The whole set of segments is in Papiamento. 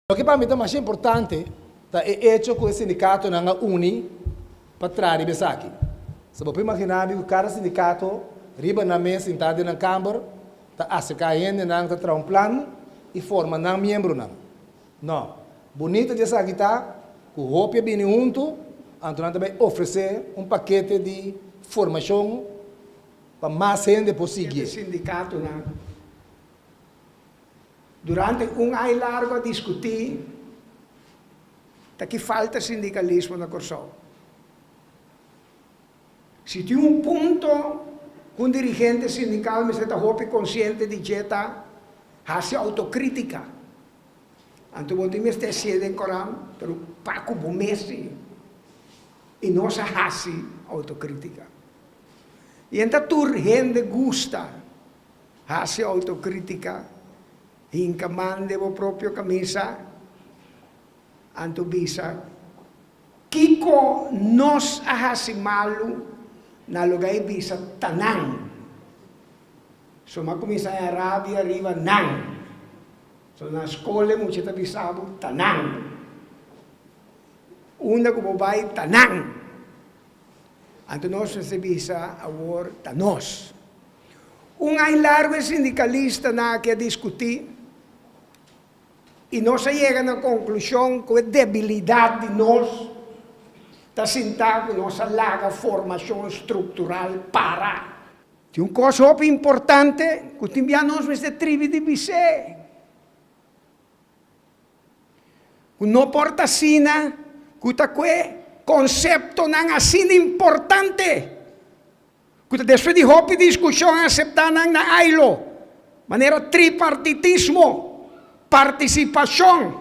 Loke pa mi ta masha importante ta e echo ku e sindikatonan a uni pa traha riba esaki. Si bo por imaginá mi ku kada sindikato riba nan mes sintá den nan kamber ta aserká hendenan ta traha un plan i forma nan miembronan. Nò, bunita di esaki ta ku hopi a bini huntu anto nan ta bai ofresé un pakete di formashon pa mas hende por sigié. Durante un ai largo a diskutí ta ki falta sindikalismo na Kòrsou. Si tin un punto ku un dirigente sindikal mester ta hopi konsiente di dje ta hasi outokrítika. Anto bo tin mester sié den koran preokupá ku bo mes i no sa hasi outokrítika. Yen ta tur hende gusta. Hasi autokritika, hinka man den bo propio kamisa, anto bisa, Kiko nos a hasi malu na luga i bisa ta nan? So m'a kuminsá ña rabia riba nan. So na skole mucha ta bisa bo ta nan. Unda ku bo bai ta nan. Anto nos mester bisa awor ta nos. Un ai largu e sindikalistanan aki a diskutí i nos a yega na konklushon ku e debilidat di nos ta sintá ku nos a laga formashon struktural para. Tin un kos hopi importante ku tin bia nos mester tribi di bis'é, ku no por ta asina ku ta ku e konseptonan asina importante. ku ta despues di hopi diskushon a aseptá nan na ILO, manera tripartitismo, partisipashon,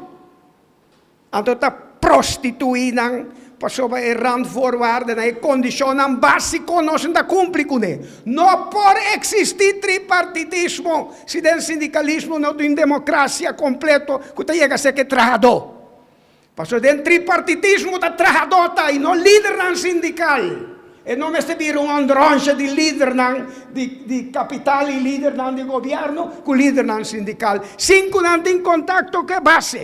anto ta prostituí nan pasobra e randvoorwaardennan, e kondishonnan básiko nos no ta kumpli kuné. No por eksistí tripartitismo si den sindikalismo no tin un demokrasia kompleto ku ta yega serka e trahadó. Pasobra den tripartitismo ta trahadóta i no lidernan sindikal. E no mester bira un ondròncha di lidernan di kapital i lidernan di gobièrnu ku lidernan sindikal sin ku nan tin kontakto ku e base.